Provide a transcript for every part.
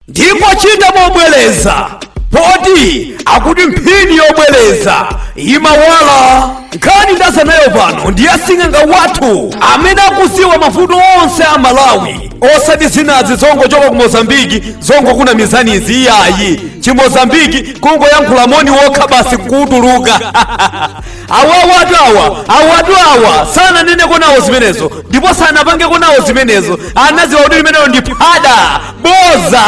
ndipo chita mobwereza poti akuti mphini yobwereza imawala nkhani ndazanayo pano ndi asing'anga wathu amene akuziwa mavuto onse a malawi osati zinazi zongochoka ku mozambiki zongokunamizanizi iyayi chimozambiki kungoyankhula moni wokha basi kuutuluka awawatu awa awatu awa sananeneko nawo zimenezo ndipo sanapangeko nawo zimenezo anaziwa kuti limenelo ndi phada boza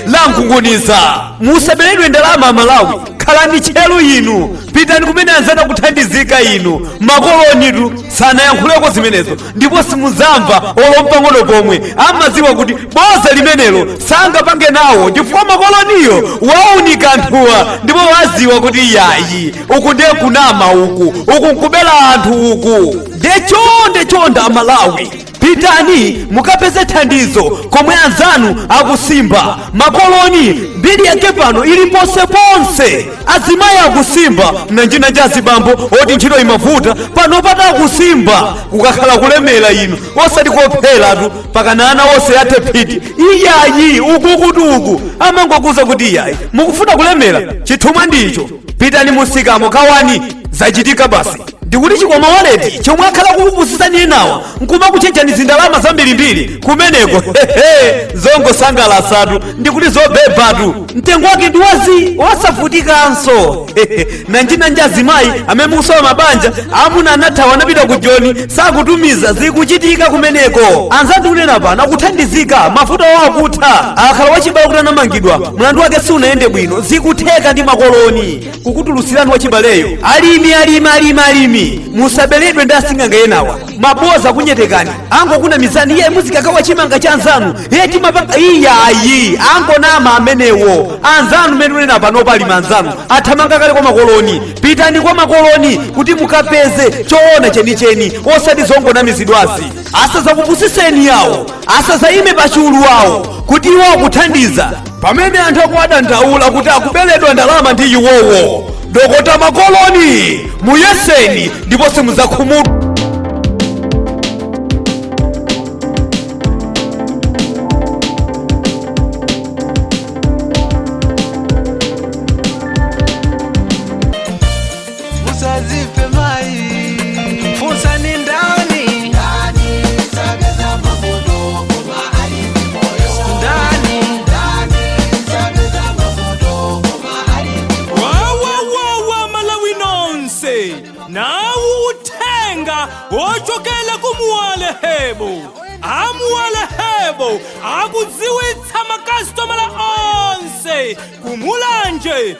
la nkhunguniza musaberedwe ndalama amalawi khalani tcheru inu pitani kumene anzanu akuthandizika inu makolonitu sanayankhuleko zimenezo ndipo simuzamva olo mpang'ono pomwe amaziwa kuti boza limenelo sangapange nawo chifukwa makoloniyo waunika anthuwa ndipo waziwa kuti yayi uku nde kunama uku uku nkubera anthu uku nde chonde chonde amalawi pitani mukapeze thandizo komwe anzanu akusimba makoloni mbiri yake pano ili ponseponse azimayi akusimba mnanjinanji azibambo oti ntchito imavuta pano pata akusimba kukakhala kulemera inu osati kupheratu mpakana ana onse athe phyiti iyayi ukutu uku amangokuuza kuti iyayi mukufuna kulemera chithumwa ndicho pitani mu sikamuka ani zachitika basi ndikuti chikwama waleti chomwe akhala kukupusisani enawa nkumakuchajani zindalama zambirimbiri kumeneko hehe zongosangalasatu ndikuti zobebatu mtengo wake ndi wazi wosavutikanso Hehe, mnanjinanji azimayi amene mukusowa mabanja amuna anathawa anapita ku joni sakutumiza zikuchitika kumeneko anzanu ndikunena pano akuthandizika mafuta wawo akutha kukhala wachibale kuti anamangidwa mlandu wake siunayende bwino zikutheka ndi makoloni kukutulutsirani wachibaleyo alimi alimi alimi alimi musaberedwe ndi asing'anga enawa aboza akunyengani angokunamizani iye muzikakawa chimanga cha anzanu iye timapanga iyayi angonama amenewo anzanu mmene ndikunena panopa alimi anzanu athamanga kale kwa makoloni pitani kwa makoloni kuti mukapeze choona chenicheni osati zongonamizidwazi asazakupusiseni yawo asazayime pa chulu wawo kuti iwo akuthandiza pamene anthu akuwadandaula kuti akubeledwa ndalama ndi iwowo dokota makoloni muyeseni ndipo simuzakhumudwa uzadzifunse mafunso ni ndani ndani sapeza mavuto koma ali ndi moyo ndani ndani sapeza mavuto koma ali ndi moyo wawa wawa malawi nonse nawo uthenga ochokela ku muwale hebo amuwale hebo akudziwitsa makasitomala onse kumulanje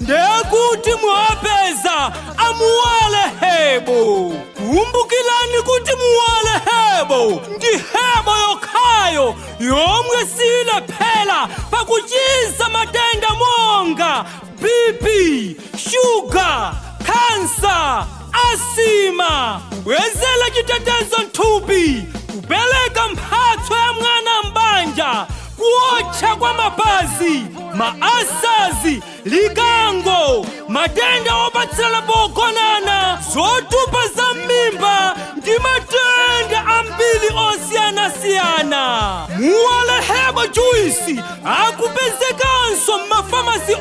ndikuti mwapeza amuwale hebo kumbukilani kuti muwale hebo ndi hebo yokhayo yomwe siyilephera pakuchiza matenda monga bp shuga kansa asima kubwezera chitetezo m'thupi kupereka mphatso ya mwana m'banja kuotcha kwa mapazi mauka azi likango matenda opatsirana pogonana zotupa za m'mimba ndi matenda ambiri osiyanasiyana muwale hebo juisi akupezekanso m'mafamasi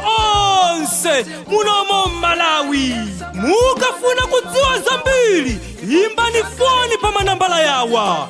onse muno mmo m'malawi mukafuna kudziwa zambiri imbani foni pa manambala yawa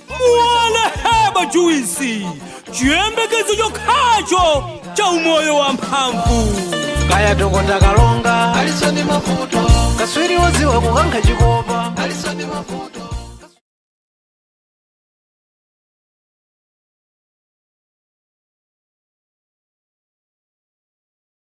muwale hebo juisi chiyembekezo chokhacho cha umoyo wa mphamvu khaya dokota kalonga alisoni mavuto kaswiri woziwa kukankha chikopa alisoni mavuto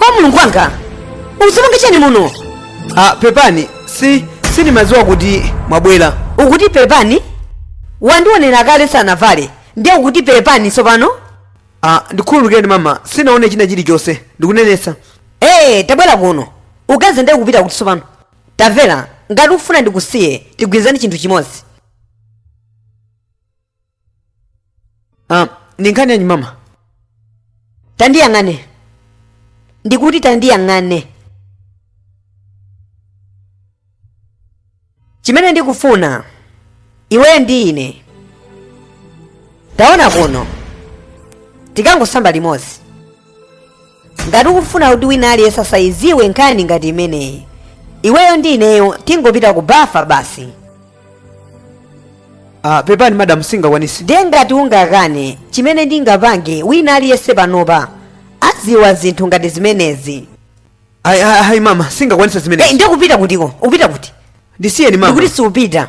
oh mulungu wanga ukudzipanga chani muno ah, pepani si sindimadziwa kuti mwabwera ukuti pepani wandionera kale sinavale ndiye ukuti pepani tsopano ah, ndikhululukireni mama sinaonepo china chilichonse ndikunenesa ee tabwera kuno ukazindiuza ukupita kuti tsopano tamvera ngati ufuna ndikusiye tigwirizane chinthu chimodzi Ah, ndi nkhani yanji mama tandiyang'ane ndikuti tandiyang'ane chimene ndikufuna iweyo ndi ine taona kuno tikangosamba limodzi ngati ukufuna kuti wina aliyense asayiziwe nkhani ngati imeneyi iweyo ndi ineyo tingopita ku bafa basi ah, pepani madam singakwanise ndiye ngati ungakane chimene ndingapange wina aliyense panopa aziwa zinthu ngati zimenezi ayi ayi ayi, mama singakwanise Eh, zimene ndiye ukupita kutiko upita kuti ndisiyeni mama ndikuti suupita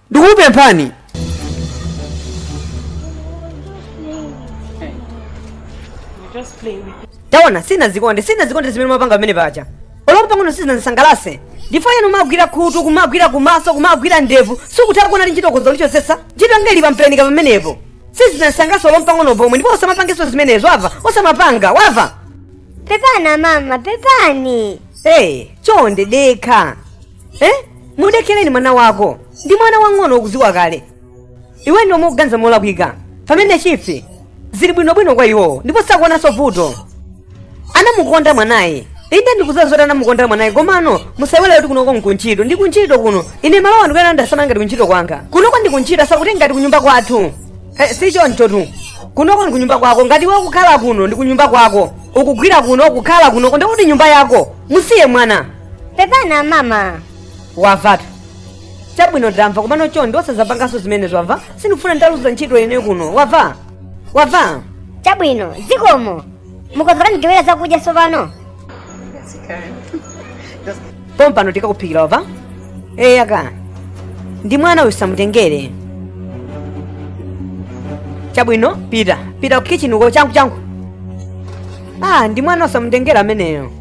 ndikupempha taona sinazikonde sinazikonde zimene mapanga pamene paja oloko pang'ono sizinandisangalase ndipo yenu kumagwira khutu kumagwira kumaso kumagwira ndevu sukutha kuona ndi ntchito konza lichosesa ntchito ngeli pamperenika pamenepo sizinandisangalase oloko pang'ono pomwe ndipo osamapangenso zimenezo wava osamapanga wava pepani mama pepani ee chonde dekha eh? mudekereni mwana wako ndi mwana wang'ono ukuziwa kale iwe ndi amene ukuganiza molakwika pamene zinthu zili bwinobwino kwa iwowo ndipo sakuonanso vuto anamukonda mwanayi inde ndikuziwa zoti anamukonda mwanayi komano musaiwale kuti kunoko nkuntchito ndi kuntchito kuno ine malowa ndikuyenera ndasamala ngati kuntchito kwanga kunoko ndi kuntchito osati ngati kunyumba kwathu eh, si choncho tu kunoko ndi kunyumba kwako ngati iwe ukukhala kuno ndi kunyumba kwako ukugwira kuno ukukhala kunoko ndikuti nyumba yako musiye mwana pepani amama wavatu chabwino ndamva komano chonde osazapanganso zimenezo wamva sindikufuna ndiluze ntchito ine kuno wava wava chabwino zikomo mukonzeka ndigewera zakudya tsopano pompano tikakuphikira wava eya koma ndi mwana usamutengere chabwino pita pita kukichini uko changu changu ah ndi mwana osamutengera ameneyo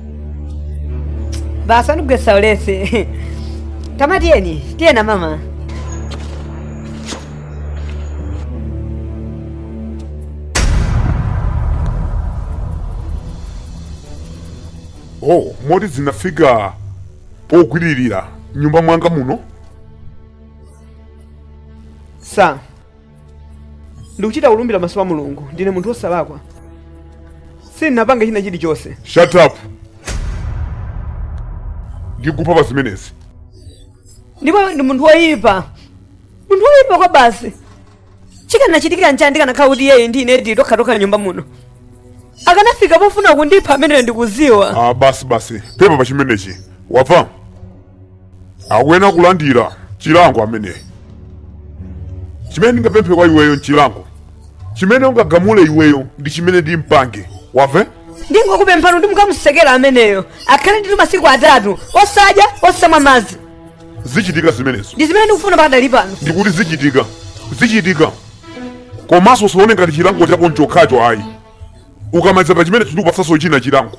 basi andigwesa ulesi tama tiyeni tiyeni mama oh moti zinafika pogwiririra nyumba mwanga muno sa ndikuchita kulumbira maso pa mulungu ndine munthu wosalakwa sindinapanga china chilichonse shut up ndikupha pa zimenezi ndipo ndi munthu woyipa munthu woyipa kwa basi chikanachitikira nchani ndikanakhala kuti iyeyi ndi ine tili tokhatokha nyumba muno akanafika pofuna kundipha ameneyo ndikuziwa ah, basi basi pepa pa chimenechi wava akuyenera kulandira chilango ameneyo chimene ndingapemphe kwa iweyo nchilango chimene ungagamule iweyo ndi chimene ndimpange wava ndingokupemphani kuti mukamutsekere ameneyo akhale ndithu masiku atatu osadya osamwa madzi zichitika zimenezo ndi zimene ndikufuna pakadali pano ndikuti zichitika zichitika komanso usaone ngati chilango chako nchokhacho ayi ukamaliza pa chimenecho ndikupatsanso china chilango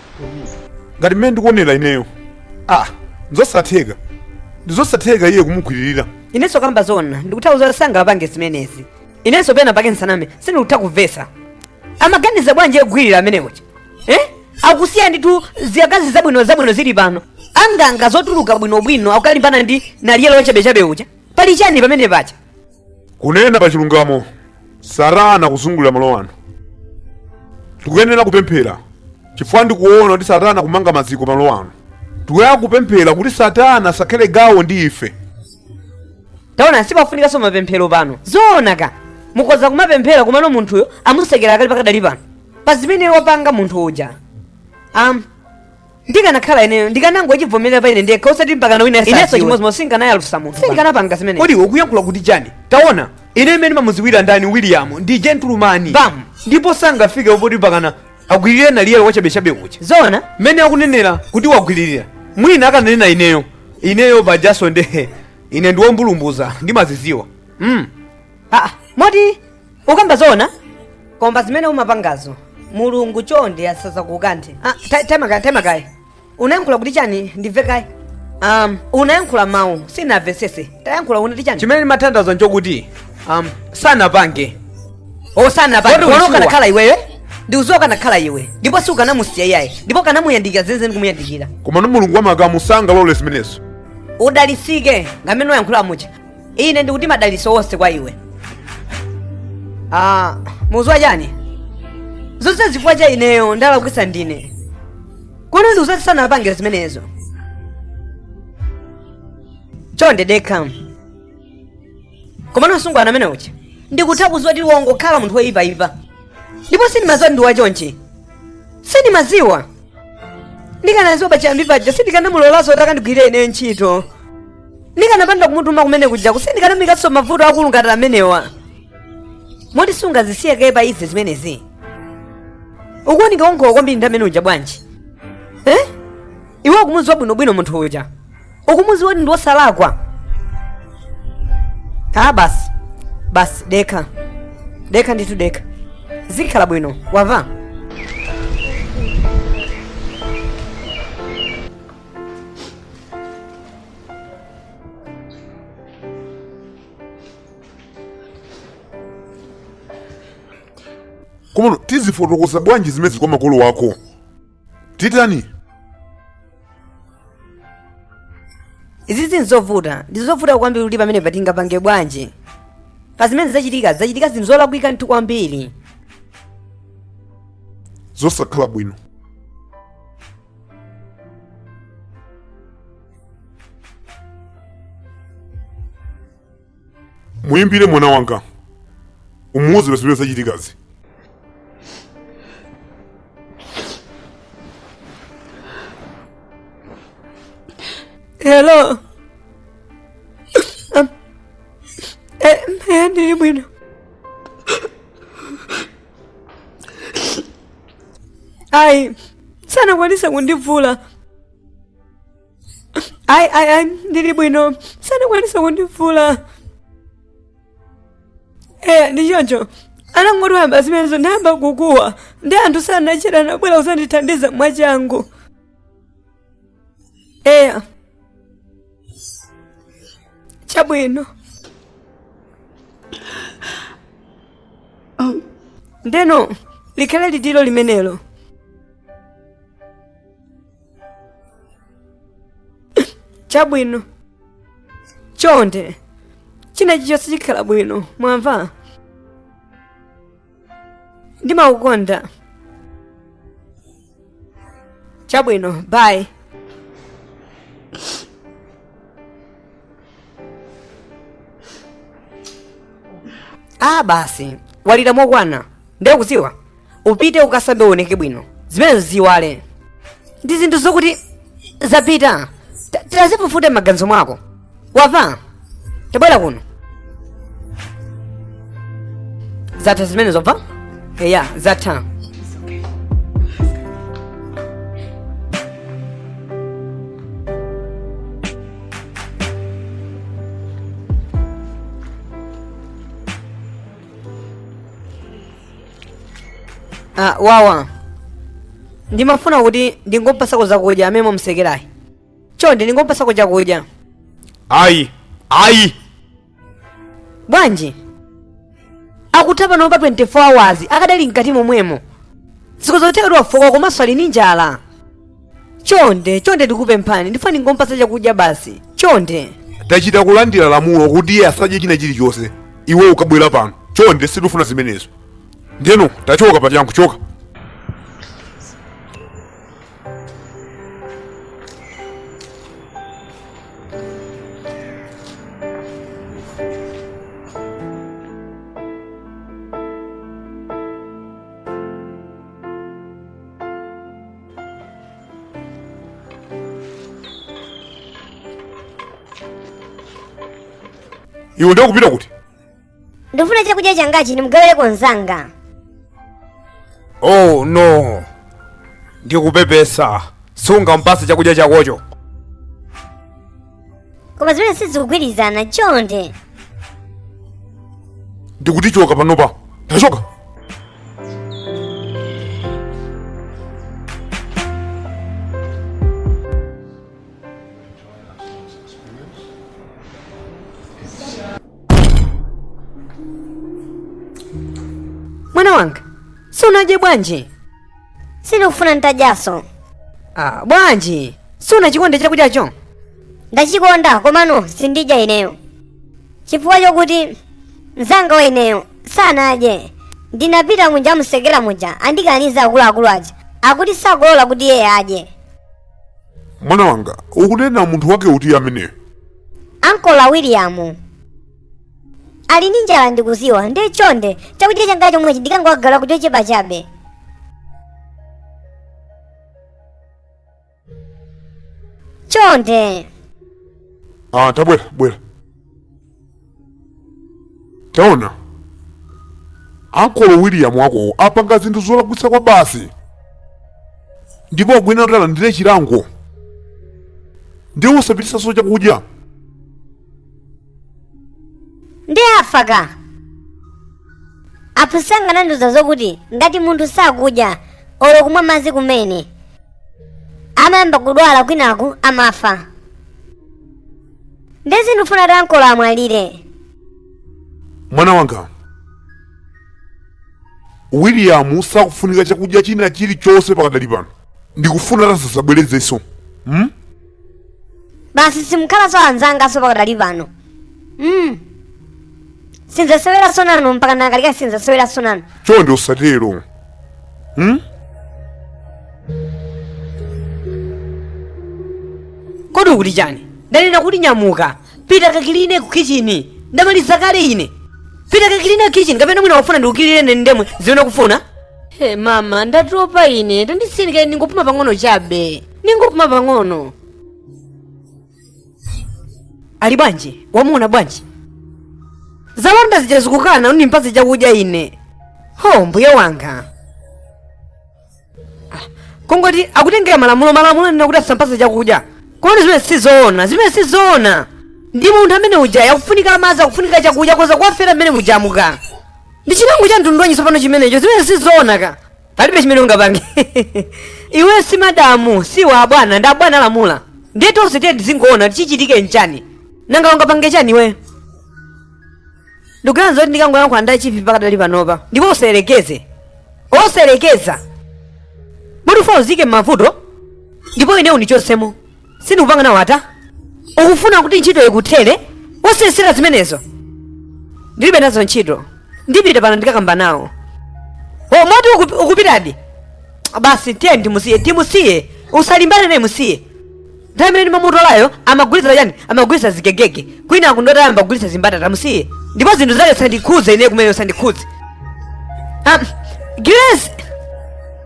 ngati mmene ndikuonera ineyo ndizosatheka ndizosatheka iye kumugwiririra inenso kamba zoona ndikutha kuona kuti sangapange zimenezi inenso pena pake nsaname sindikutha kumvesa amaganiza bwanji kugwirira amene uja eh? akusiya ndithu ziyakazi zabwino zabwino zili pano anganga zotuluka bwinobwino akukalimbana ndi naliyelo wa chabechabe uja pali chani pamene pacha kunena pa chilungamo satana akuzungulira malo ano tikuyenera kupemphera chifukwa ndikuona kuti satana akumanga maziko malo ano tikuyenera kupemphera kuti satana asakhale gawo ndi ife taona sipakufunikanso mapemphero pano zoona ka mukoza kumapemphera komano munthuyo amutsekera akali pakadali pano pa zimene wapanga munthu uja um, ndikanakhala ineyo ndikanangochivomerera pa ine ndekha osati mpakana wina inenso asadziwe. chimodzimodzi sindikanayalutsa munthu sindikanapanga zimene kodi ukuyankhula kuti chani taona ine mmene ndimamuziwira ndani william ndi gentleman Bam. ndipo sangafike poti mpakana agwiririre naliyelo wachabechabe uja zona mmene akunenera kuti wagwiririra mwina akananena ineyo ineyo pajaso nde ine ndiwombulumbuza ndimaziziwa mm. aa moti ukamba zona koma zimene umapangazo mulungu chonde asazakukanthe ah, ta- taima kaye taima kaye ukuyankhula kuti chani ndimve kaye um, wayankhula mawu sinamvesese tayankhula unati chani chimene ndimatanthauza nchokuti um, sanapange osana Kodi pano ulichiwa? ukanakhala iweyo ndi uziwa ukanakhala iwe ndipo si ukanamusiya iyaye ndipo ukanamuyandikira zenizeni kumuyandikira komano mulungu wamakamu sangalole zimenezo udalisike ndi mmene wayankhulira muja ine ndikuti madaliso onse kwa iwe ah, mukuziwa chani zonsezi chifukwa cha ineyo ndalakwisa ndine kodi ndiuzati sanapangira zimenezo chonde dekha komano msungwana amene uja ndikutha kuziwa kuti wangokhala munthu woyipayipa ndipo sindimaziwa kuti ndi wachonchi sindimaziwa ndikanaziwa pachiyambi paja sindikanamulolanso kuti akandigwire ineyo ntchito ndikanapanda kumutuma kumene kuja sindikanamuikanso mmavuto akulu ngati amenewa moti sungazisiye kaye pa ife zimenezi ukuoneka wokhomwa kwambiri ndi mmene uja bwanji eh? iwe ukumuziwa bwinobwino munthu uja ukumuziwa kuti ndi wosalakwa a basi basi dekha dekha ndithu dekha zikhala bwino wamva komano tizafotokoza bwanji zimenezi kwa makolo ako titani izi ndi zovuta ndi zovuta kwambiri kuti pamenepa tingapange bwanji pa zimene zachitika zachitika zinthu zolakwika nthu kwambiri zosakhala bwino muyimbire mwana wanga umuwuze zimene zachitikazi Hello. Um, eh, eh, ndili bwino. ayi sanakwanise kundivula ayi ayi ayi ndili bwino sanakwanise kundivula eya ndi choncho anangotoyamba zimenezo ndeyamba kukuwa nde anthu sanachita anabwera kuzandithandiza mwachangu eya chabwino ndeno likhale liwiro limenelo chabwino chonde china chichonse chikhala bwino mwamva ndimakukonda chabwino bye ah basi walira mokwanira ndikudziwa upite ukasambe uoneke bwino zimenezo uiwale ndi zinthu zokuti zapita Ta- tazifufuta maganizo mwako wamva tabwera kuno zatha zimenezo wamva eya zatha Ah, wawa ndimafuna kuti ndingompatsako zakudya amene mwamtsekerayi chonde ndingompatsako chakudya ayi ayi bwanji akutha panopa 24 hours akadali mkati momwemo si zotheka kuti wafoka komanso ali ndi njala chonde chonde ndikukupemphani ndifuna ndingompatsa chakudya basi chonde tachita kulandira lamulo kuti iye asadye china chilichonse iwe ukabwera pano chonde sitifuna zimenezo ndiyeno tachoka pachangu choka iwe ndiye ukupita kuti ndifuna chakudya changachi ndimugawireko mzanga oh no ndikupepesa sungampatse chakudya chakocho koma zimenezi sizikugwirizana chonde ndikuti choka panopa tachoka mwana wanga sunadye bwanji sindikufuna nditadyanso ah, bwanji sunachikonde chakudyacho ndachikonda komano sindidya ineyo chifukwa chokuti mzanga wa ineyo sanadye ndinapita muja muselo muja andikaniza akuluakulu aja akuti sakulola kuti iye adye mwana wanga ukunena munthu wake uti ameneyo ankolo william ali ndi njala ndikudziwa nde chonde chakudya changa chomwechi ndikangowagaila koti kochepa chabe chonde ah tabwera bwera taona ankolo william wakowo apanga zinthu zolakwitsa kwabasi ndipo akuyenera kuti alandire chilango ndiye usapititsenso chakudya nde afa ka aphunzitsi anga anandiuza zokuti ngati munthu sakudya olo kumwa madzi kumene amayamba kudwala kwinaku amafa ndiye sindifuna kuti ankolo amwalire mwana wanga william sakufunika chakudya china chilichonse pakadali pano ndikufuna kuti asadzabwerezenso hmm? basi simukhalanso anzanga pakadali pano mm. sinzaseweranso nanu mpaka ndikalike sinzaseweranso nanu chonde usatero hmm? kodi ukuti chani ndanena kuti nyamuka pita ukakiline ku kichini ndamaliza kale ine pita ukakiline ku kichini kapena mwina wafuna ndikukilinire ine ndi zomwe zimene ukufuna Hey, mama ndatopa ine tandisiyeni kaye ndingopuma pang'ono chabe ningopuma pang'ono ali bwanji wamuona bwanji zilonda zija akukana ndimpatse chakudya ine ho mbuye wanga Ah, kungoti akutengera malamulo malamulo anena kuti asampatse chakudya kodi zimene sizoona zimene sizoona ndi munthu amene uja akufunika madzi akufunika chakudya akhoza kuwafera mmenemuja muja ndi chilango cha mtundu wanji tsopano chimenecho zimene sizoona ka palibe chimene ungapange iwe si madamu si iwe abwana ndi abwana alamula ndiye tonse tiye tizingoona kuti chichitike nchani nanga ungapange chani iwe ndikuganiza kuti ndikangoyankhula ndi achifu pakadali panopa ndipo usayerekeze osayerekeza ukufuna uziike m'mavuto ndipo ine undichotsemo sindikupanga nawo ata ukufuna kuti ntchito ikuthere osayesera zimenezo ndilibe nazo ntchito ndipita pano ndikakamba nawo o moti ukup- ukupitadi basi tiye timusiye timusiye usalimbane naye musiye nthawi imene ndimamutolayo amagulitsa chani amagulitsa zigegege kwina akuti wayamba kugulitsa zimbatata musiye ndipo zinthu zake zisandikhudze ine kumene zisandikhudze Ah, grace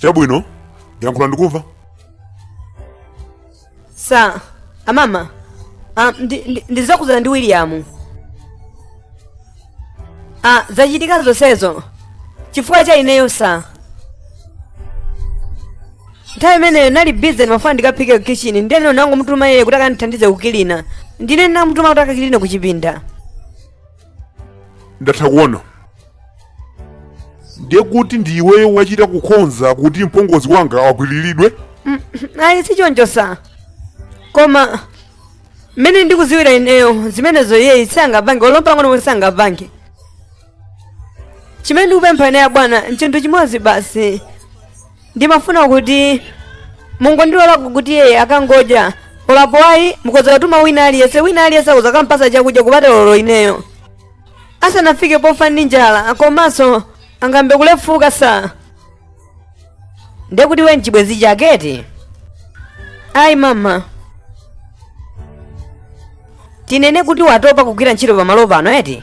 Chabwino, yankhula ndikumva. sa amama ah, ndi- ndi- ndi zokhudzana ndi william ah, zachitika zonsezo chifukwa cha ineyo sa nthawi imeneyo ndinali bize ndimafuna ndikaphike kukichini ndiyeno ndinangomutuma iye kuti akandithandize kukilina ndine ndinamutuma kuti akakiline kuchipinda Ndatha kuona. ndiye kuti ndi iweyo wachita kukonza kuti mpongozi wanga agwiriridwe ayi sichoncho sa koma mmene ndikudziwira ineyo zimenezo iyeyu sangapange olo m'pang'ono kuti sangapange chimene ndikupempha ineyo bwana nchinthu chimodzi basi ndimafuna kuti mungondilola kuti iyeyo akangodya apo ayi mukhoza kutuma wina aliyense wina aliyense akhoza kukampatsa chakudya kupatulako ineyo asanafike pofa ndi njala komanso angayambe kulefuka sa ndiye kuti iwe ndi chibwenzi chaketi ayi mama tinene kuti watopa kugwira ntchito pamalo pano eti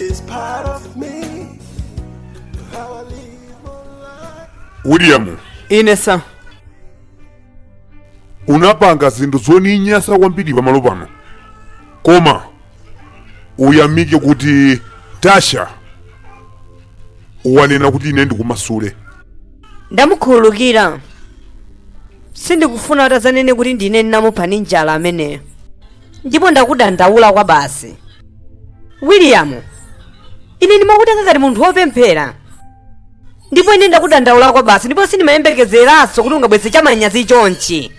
It's part of me. How I live my life. william ine sa unapanga zinthu zoninyasa kwambiri pamalo pano koma uyamike kuti tasha wanena kuti ine ndikumasule ndamukhululukira sindikufuna kuti azanene kuti ndine ndinamupha ndi njala ameneyo ndipo ndakudandaula kwabasi william ine ndimakutenga ngati munthu wopemphera ndipo ine ndakudandaula kwabasi ndipo sindimayembekezeranso kuti ungabweze chamanyazi chonchi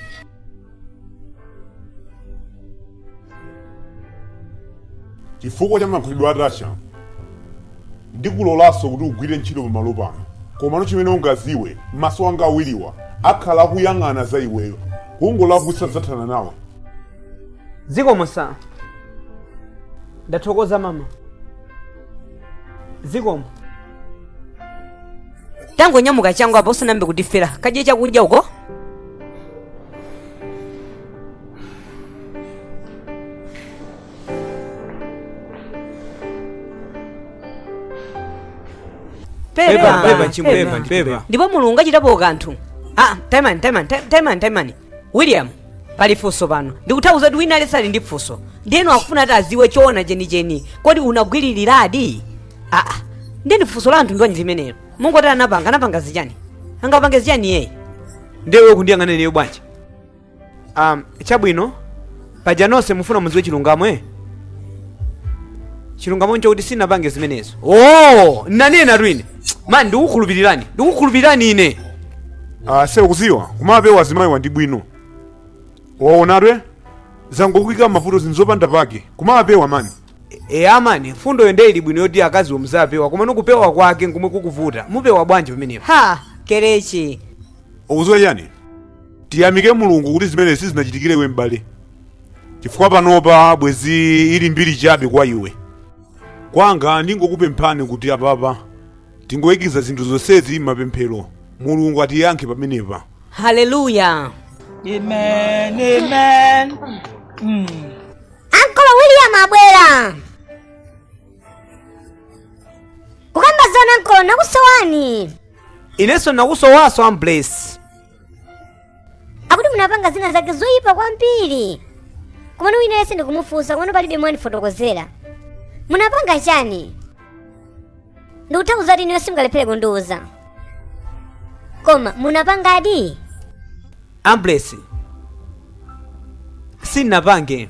chifukwa cha makhalidwe a tasha ndikulolanso kuti ugwire ntchito pamalo pano komano chimene ukaziwe maso anga awiriwa akhala akuyang'ana za iweyo kungolakwitsa zathana nawe zikomo sa ndathokoza mama zikomo tangonyamuka changu apa usanayambe kutifera kadye chakudya uko pepa pepa chimwe pepa ndi pepa ndipo mulungu achitapo kanthu ah taimani taimani ta- taimani taimani william pali funso pano ndikutha kuona kuti wina aliyense ali ndi funso ndiyeno akufuna ati aziwe choona chenicheni kodi unagwiriliradi aa ndiyeni funso la anthu ndiwanji limenelo mungoti anapanga anapanga chani angapange chani iyeyu ndiye iwe kundiyang'ana ineyo bwanji um, chabwino paja nonse mufuna mudziwe chilungamo eh? chilungamo nchokuti sinapange zimenezo oh, nanenatu ine mani ndikukhulupirirani ndikukhulupirirani ine Ah, se ukuziwa kumapewa azimayiwa ndi bwino waonadwe angokuika m'mavuto zinthu zopanda pake kumapewa mani e amani mfundoyo nde ili bwino yoti akaziwo muziwapewa komano kupewa kwake nkomwe kukuvuta mupewa bwanji pamenepo ha kele ukuziwa chani Tiyamike Mulungu kuti zimenezi sizinachitikire iwe m'bale, chifukwa panopa bwezi ili mbiri chabe kwa iwe. Kwanga n'kungokupemphani kuti apapa tingoyikiza zinthu zonsezi m'mapemphero, Mulungu atiyankhe pamenepa. haleluya Amen, amen. Mm. ankolo william abwera kukamba zoona ankolo nakusowani inenso nakusowanso amblesi akuti munapanga zina zake zoyipa kwambiri komano wina yense ndikumufunsa komano palibe mwandifotokozera munapanga chani ndikutha kuona kuti ineyo simungalephere kundiuza koma munapangadi amblesi sinapange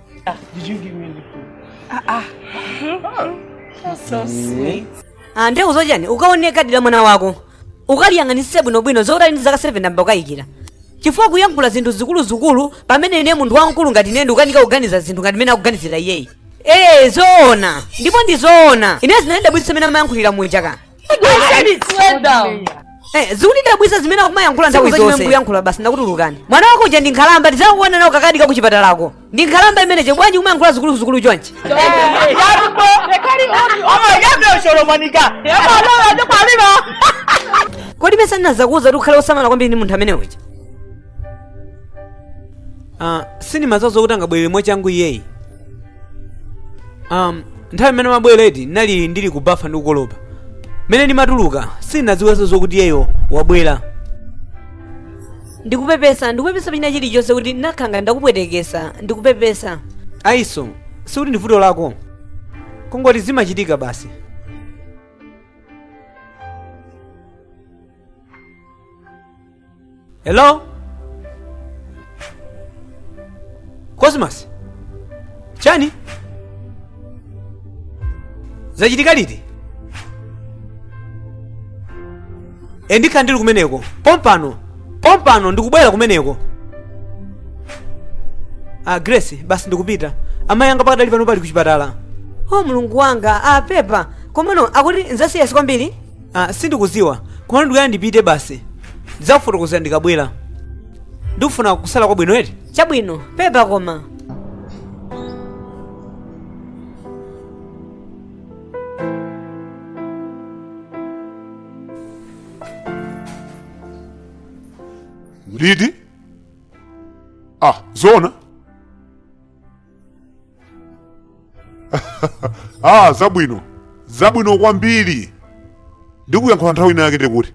Ah, did you give me the food? Ah, ah. Oh, that's so sweet. Ah, nde ukuziwa chani ukaona kadi la mwana wako ukaliyang'anitsitse bwinobwino zokuti ali ndi zaka 7 ndayamba kukayikira chifukwa kuyankhula zinthu zikuluzikulu pamene ine munthu wamkulu ngati ine ndikukanika kuganiza zinthu ngati mene akuganizira iyeyi ee zoona ndipo ndi zoona ine zinandidabwitsa mene amayankhulira muja ka Eh, zikundidabwisa zimene akumayankhula nthawi Sukuziwa chimene zonse mukuyankhula basi ndakutulukirani mwana wako uja ndi nkhalamba ndizakaona nawo kakadi ka kuchipatalako ndi nkhalamba imeneyo bwanji kumayankhula zikuluzikulu chonchi kodi mesa ndinazakuuza kuti ukhale osamala kwambiri ndi munthu amene uja uh, sindimadziwa zokuti angabwerere mwachangu iyeyi um, nthawi imene amabwera ndinali ndili kubafa ndikukolopa mmene ndimatuluka sindinadziwenso zokuti iyeyo wabwera ndikupepesa ndikupepesa pachina chilichonse kuti mwina kaya ndakupwetekesa ndikupepesa ayi so sikuti ndi vuto lako kungoti zimachitika basi Hello? Cosmas? Chani? Zachitika liti? E ndikhala ndili kumeneko. Pompano. Pompano ndikubwera kumeneko. Ah, Grace, basi ndikupita. Amayi anga pakadali pano ali kuchipatala. o mulungu wanga apepa komano akuti nzasiliyasi kwambiri Ah, sindikuziwa koma ndikuyenera ndipite basi ndidzakufotokozera ndikabwera ndikufunira kusala kwabwino eti chabwino pepa koma Lidi? Ah, zona? ah zabwino zabwino kwambiri ndikuyankhula nthawi ina yake ndikuti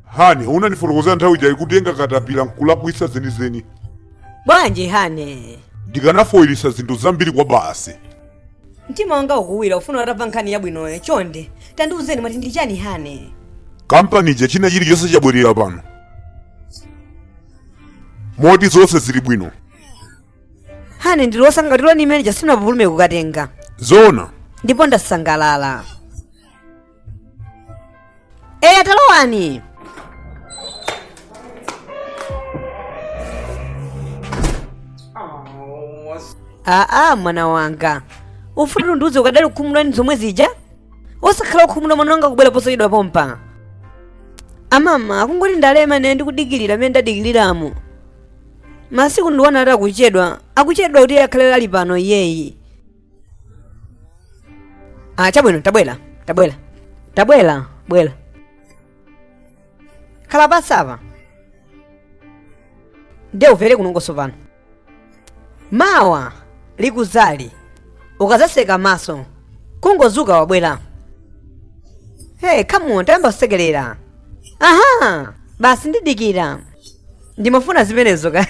hane unandifotokozera nthawi ijayi kuti kutenga katapira nkulakwitsa zenizeni bwanji hane ndikanafoyilisa zinthu zambiri kwabasi mtima wanga ukuwira kufuna utamva nkhani yabwinoyo chonde tandiuzeni mwati ndi chani hane kampani ija china chilichonse chabwerera pano moti zonse zili bwino hane ndili wosangalala nthawi imene ija sindinapupulume kukatenga zoona ndipo ndasangalala eya talowani aa mwana wanga ufuna undiuze ukadali kukhumudwa ndi zomwe zija osakhala okhumudwa mwana wanga kubwera posachedwa pompa amama kungoti ndalema ndiye ndikudikirira amene ndadikiriramu masiku ndi ana ati akuchedwa akuchedwa kuti iye akhale ali pano iyeyi ah chabwino tabwera tabwera tabwera bwera khala pansipa ndiye umvere kunongoso pano mawa likuzali ukazaseka maso kungozuka wabwera hey come on tayamba kusekerera aha basi ndidikira ndimafuna zimenezo ka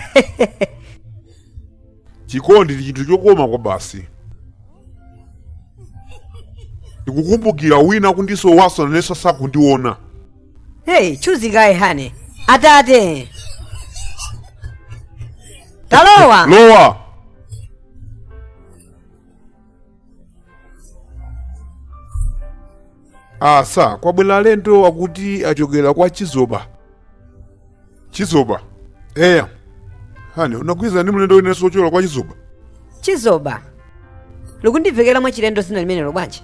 chikondi ndi chinthu chokoma kwa basi ndikukumbukira wina kundisowaso naneso sakundiona Hey, Uchuzi kaye hani. Atate. Talowa. lowa asa kwabwera alendo akuti achokera kwa chizoba chizoba eya hani unagwirizana ndi mlendo wina wochokera kwa chizoba Chizoba. Likundivekera mwachilendo dzina limenelo bwanji?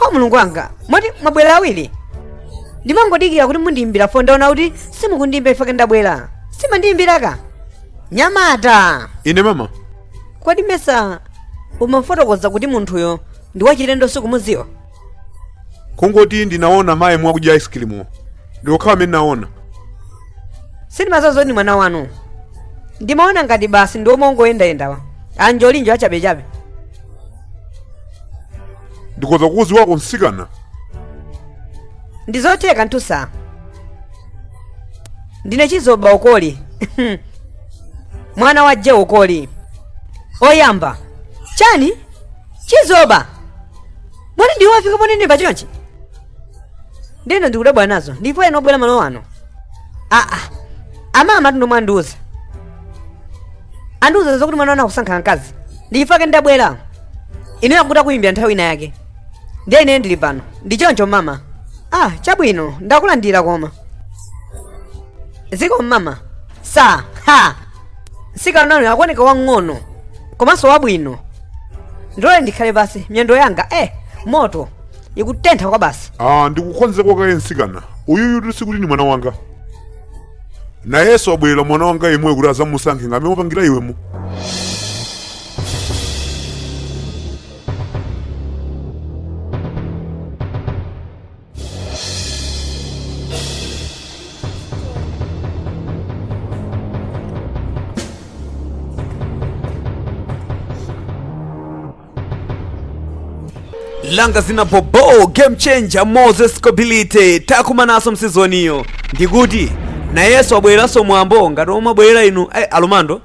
o mulungu wanga moti mwabwera awiri ndimangodikira kuti mundiyimbire foni ndaona kuti simukundiyimbira ifake ndabwera simandiyimbira ka mnyamata ine mama kodi mesa umafotokoza kuti munthuyo ndi wachilendo sukumuziwa kungoti ndinaona mayi akudya ice cream ndi okhawo amene ndinaona sindimaziwa zoti ndi mwana wanu ndimaona ngati basi ndi omwe ongoyendayendawa anjolinjoli achabechabe ndikoza kukuziwa ka mtsikana ndi zotheka ndithu sa ndine chizoba ukoli mwana wa je ukoli oyamba chani chizoba bwana ndiwo afika pano ndi bachonchi ndiyeno ndikudabwa nazo ndipo ena abwera malo ano aa amama athu ndomwe andiuza andiuza zokuti mwana wanu akusankha mkazi ndifake ndabwera ine akuti akuyimbira nthawi ina yake ndiye ine ndili pano ndi choncho mama ah chabwino ndakulandira koma zikomo mama sa ha mtsikanayo akuoneka wang'ono komanso wabwino ndilole ndikhale pansi miyendo yanga eh moto ikutentha kwa basi ah ndikuuze kaye mtsikana uyuyu sikuti ndi mwana wanga nayenso wabwerera mwana wanga yemweyo kuti azamusankhe ngati momwe wapangira iwemo langa dzina bobo game changer moses kobilite takumananso m'sizoniyo ndikuti nayenso abwereranso mwambo ngati omwe abwerera inu eh, alomando